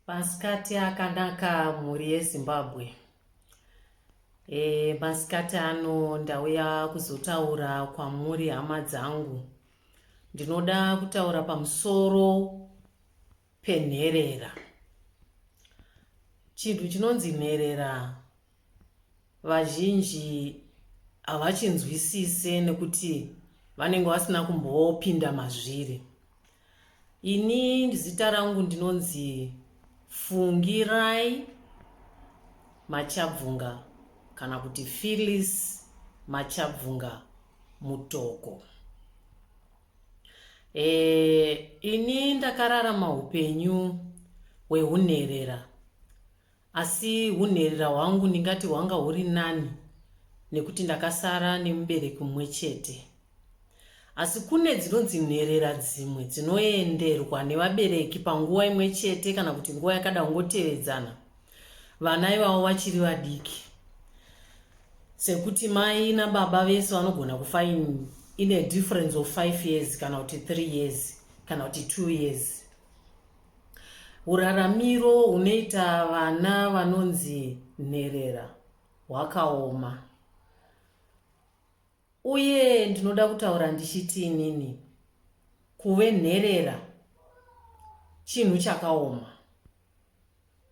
Masikati akanaka mhuri yeZimbabwe. E, masikati ano ndauya kuzotaura kwamuri hama dzangu. Ndinoda kutaura pamusoro penherera. Chinhu chinonzi nherera Vazhinji havachinzwisise nekuti vanenge vasina kumbopinda mazviri. Ini zita rangu ndinonzi Fungirai Machabvunga kana kuti Phyllis Machabvunga Mutoko. E, ini ndakararama upenyu hwehunherera Asi hunherera hwangu ndingati hwanga huri nani nekuti ndakasara nemubereki mumwe chete. Asi kune dzinonzi nherera dzimwe dzinoenderwa nevabereki panguva imwe chete kana kuti nguva yakada kungotevedzana vana ivavo vachiri vadiki sekuti mai nababa vese vanogona kufa in, in a difference of five years kana kuti three years kana kuti two years Huraramiro hunoita vana vanonzi nherera hwakaoma. Uye ndinoda kutaura ndichiti inini kuve nherera chinhu chakaoma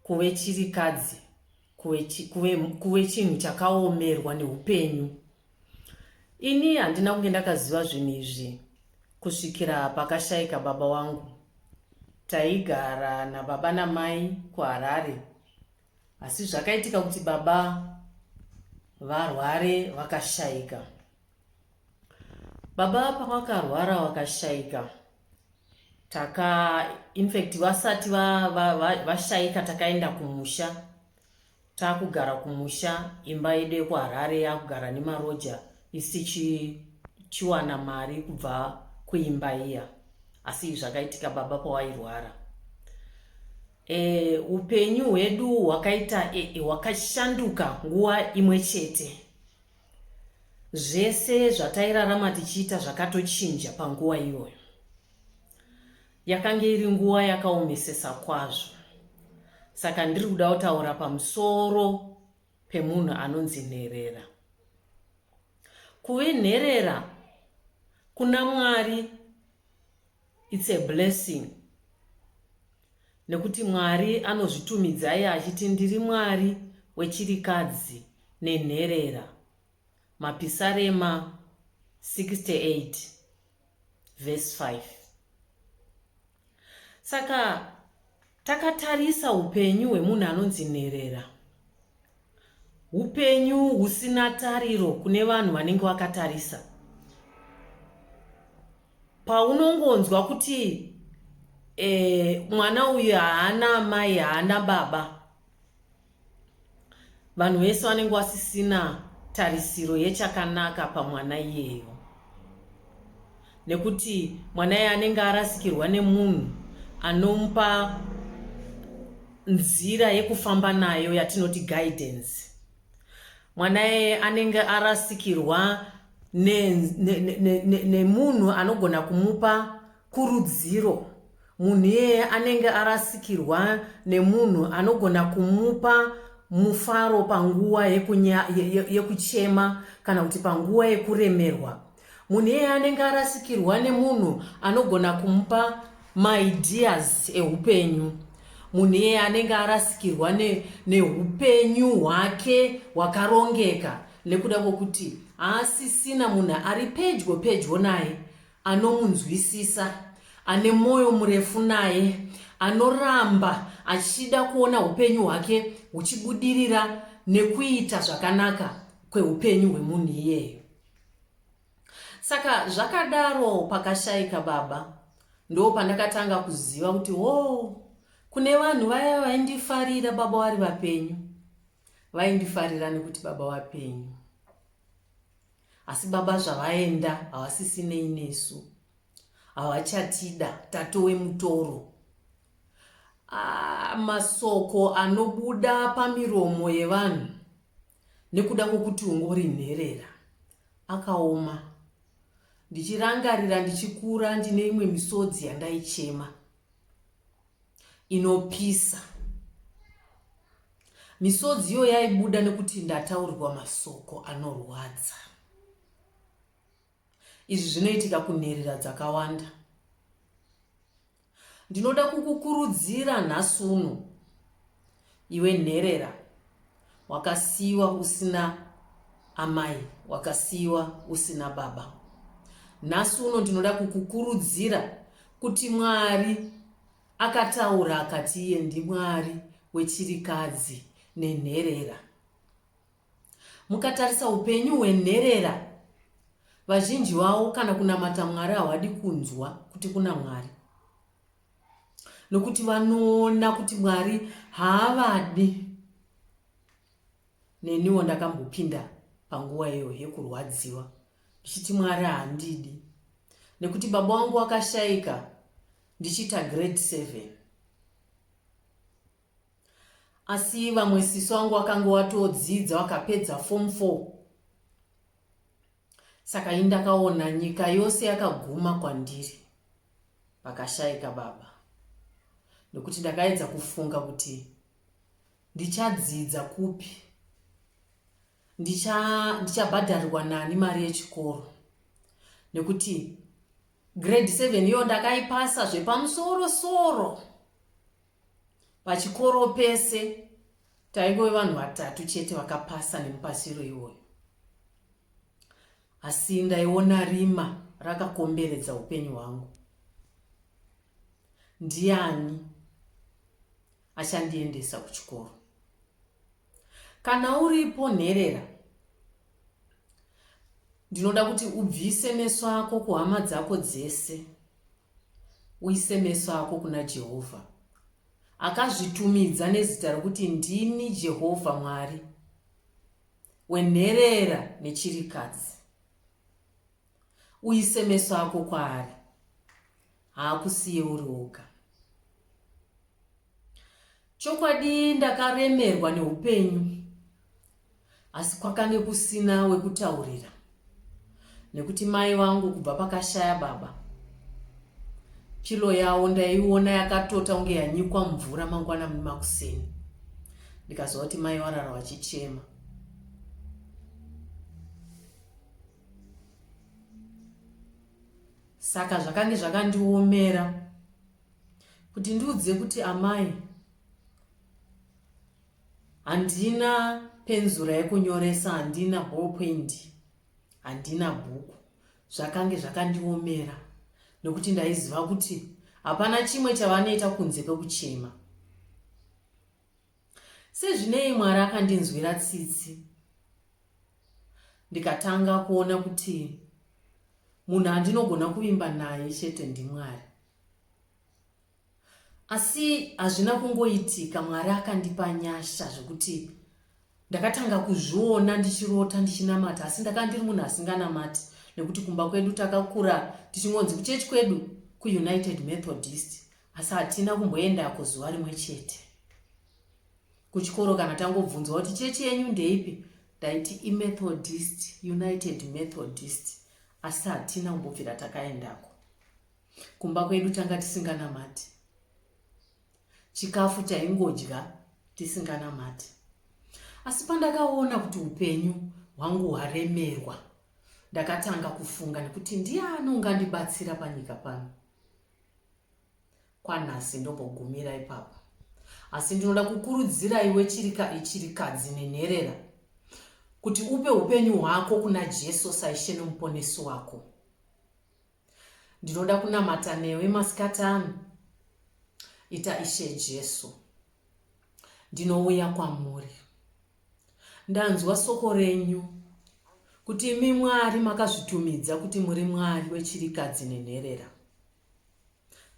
kuve chirikadzi kuve chinhu chakaomerwa neupenyu ini handina kunge ndakaziva zvinhu izvi kusvikira pakashaika baba wangu taigara nababa namai kuharare asi zvakaitika kuti baba varware vakashaika baba pavakarwara vakashaika taka infact vasati vashaika va, va, va takaenda kumusha takugara kumusha imba yedu yekuharare yakugara nemaroja isichiwana mari kubva kuimba iya asi zvakaitika baba pawairwara e, upenyu hwedu hwakaita e, e, hwakashanduka nguva imwe chete Zvese zvatairarama tichiita zvakatochinja panguva iyoyo. Yakange iri nguva yakaomesesa kwazvo. Saka ndiri kuda kutaura pamusoro pemunhu anonzi nherera. Kuve nherera kuna Mwari it's a blessing. Nekuti Mwari anozvitumidzai achiti ndiri Mwari wechirikadzi nenherera. Mapisarema 68 vhesi 5. Saka takatarisa upenyu hwemunhu anonzi nherera. Hupenyu husina tariro kune vanhu vanenge vakatarisa. Paunongonzwa kuti e, mwana uyu haana amai haana baba, vanhu vese vanenge vasisina tarisiro yechakanaka pamwana iyeyo. nekuti mwana iye anenge arasikirwa nemunhu anomupa nzira yekufamba nayo yatinoti guidance mwana iye anenge arasikirwa nemunhu anogona kumupa kurudziro munhu iyeye anenge arasikirwa nemunhu anogona kumupa mufaro panguva yekuchema kana kuti panguva yekuremerwa munhu iyeye anenge arasikirwa nemunhu anogona kumupa maideas eupenyu munhu iyeye anenge arasikirwa neupenyu ne hwake hwakarongeka nekuda kwokuti haasisina munhu ari pedyo pedyo naye anomunzwisisa ane mwoyo murefu naye anoramba achida kuona upenyu hwake huchibudirira nekuita zvakanaka kweupenyu hwemunhu iyeyo Saka zvakadaro pakashaika baba ndo pandakatanga kuziva kuti wo kune vanhu vaya vaindifarira baba vari vapenyu vaindifarira nekuti baba vapenyu asi baba zvavaenda havasisinei nesu havachatida tatowe mutoro ah, masoko anobuda pamiromo yevanhu nekuda kwokuti ungori nherera akaoma ndichirangarira ndichikura ndine imwe misodzi yandaichema inopisa misodzi iyo yaibuda nekuti ndataurirwa masoko anorwadza Izvi zvinoitika kunherera dzakawanda. Ndinoda kukukurudzira nhasi uno, iwe nherera wakasiyiwa usina amai, wakasiyiwa usina baba. Nhasi uno ndinoda kukukurudzira kuti Mwari akataura akati iye ndiMwari wechirikadzi nenherera. Mukatarisa upenyu hwenherera, vazhinji vavo kana kunamata Mwari hawadi kunzwa kuti kuna Mwari nokuti vanoona kuti mwari haavadi neniwo ndakambopinda panguva iyo yekurwadziwa ndichiti mwari handidi nekuti baba wangu wakashaika ndichiita grade seven Asi vamwe sisi wangu wakange watodzidza wakapedza form four. Saka ini ndakaona nyika yose yakaguma kwandiri. Pakashaika baba. Nokuti ndakaedza kufunga kuti ndichadzidza kupi. Ndichabhadharirwa ndicha nani mari yechikoro. Nokuti grade seven iyo ndakaipasa zvepamusoro soro. Pachikoro pese taingove vanhu vatatu chete vakapasa nemupasiro iwoyo. Asi ndaiona rima rakakomberedza upenyu hwangu. Ndiani achandiendesa kuchikoro? Kana uripo nherera ndinoda kuti ubvise meso ako kuhama dzako dzese Uise meso ako kuna Jehovha. Akazvitumidza nezita rokuti ndini Jehovha Mwari wenherera nechirikadzi. Uise meso ako kwaari. Haakusiye uri oga. Chokwadi ndakaremerwa neupenyu asi kwakange kusina wekutaurira nekuti mai vangu kubva pakashaya baba pilo yavo ndaiona yakatota kunge yanyikwa mvura mangwana mumakuseni ndikaziva kuti mai varara vachichema saka zvakange zvakandiomera kuti ndiudze kuti amai handina penzura yekunyoresa handina ballpoint handina bhuku zvakange zvakandiomera nokuti ndaiziva kuti hapana chimwe chavanoita kunze kwekuchema Sezvinei Mwari akandinzwira tsitsi ndikatanga kuona kuti munhu andinogona kuvimba naye chete ndiMwari. Asi hazvina kungoitika, Mwari akandipa nyasha zvekuti ndakatanga kuzviona ndichirota ndichinamata, asi ndakanga ndiri munhu asinganamati nekuti kumba kwedu takakura tichingonzi kuchechi kwedu kuunited methodist asi hatina kumboendako zuva rimwe chete kuchikoro kana tangobvunzwa kuti chechi yenyu ndeipi ndaiti imethodist united methodist asi hatina kumbobvira takaendako kumba kwedu tanga tisinganamati chikafu chaingodya tisinganamati asi pandakaona kuti upenyu hwangu hwaremerwa ndakatanga kufunga nekuti ndiani ungandibatsira panyika pano kwanhasi ndombogumira ipapo asi ndinoda kukurudzira iwe chirikadzi nenherera kuti upe upenyu hwako kuna jesu saishe nomuponesi wako ndinoda kunamata newe masikati ano ita ishe jesu ndinouya kwamuri Ndanzwa soko renyu, kuti imi Mwari makazvitumidza kuti muri Mwari wechirikadzi nenherera,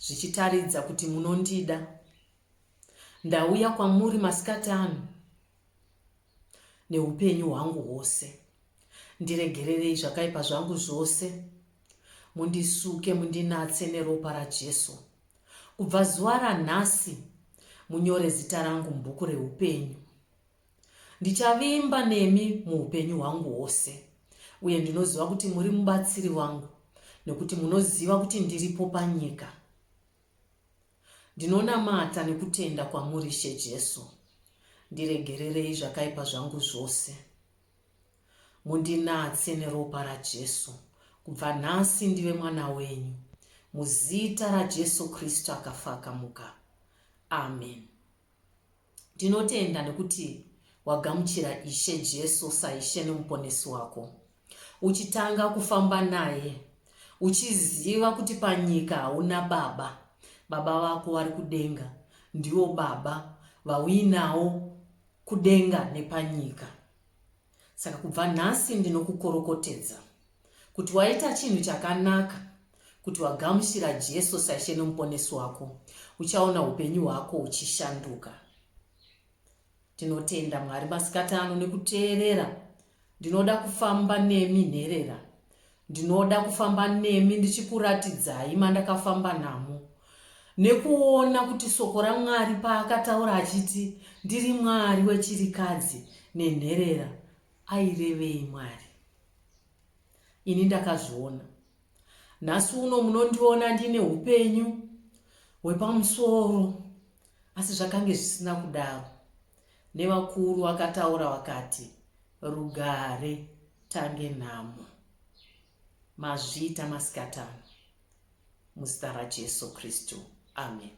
zvichitaridza kuti munondida. Ndauya kwamuri masikati ano neupenyu hwangu hwose. Ndiregererei zvakaipa zvangu zvose, mundisuke, mundinatse neropa raJesu. Kubva zuva ranhasi munyore zita rangu mubhuku reupenyu. Ndichavimba nemi muupenyu hwangu hwose, uye ndinoziva kuti muri mubatsiri wangu nekuti munoziva kuti ndiripo panyika. Ndinonamata nekutenda kwamuri, She Jesu. Ndiregererei zvakaipa zvangu zvose. Mundinatse neropa raJesu, kubva nhasi ndive mwana wenyu, muzita raJesu Kristu akafa akamuka. Amen. Ndinotenda nekuti wagamuchira Ishe Jesu saIshe neMuponesi wako, uchitanga kufamba naye, uchiziva kuti panyika hauna baba. Baba vako vari kudenga ndivo baba vauinawo kudenga nepanyika. Saka kubva nhasi ndinokukorokotedza kuti waita chinhu chakanaka kuti wagamuchira Jesu saIshe noMuponesi wako, uchaona upenyu hwako huchishanduka. Tinotenda Mwari masikati ano nekuteerera Ndinoda kufamba nemi nherera. Ndinoda kufamba nemi ndichikuratidzai mandakafamba namo. Nekuona kuti soko raMwari paakataura achiti ndiri Mwari wechirikadzi nenherera airevei Mwari. Ini ndakazviona. Nhasi uno munondiona ndine upenyu hwepamusoro Asi zvakange zvisina kudaro, nevakuru vakataura vakati, Rugare tange nhamo. Mazviita masikatano, muzita raJesu Kristu. Ameni.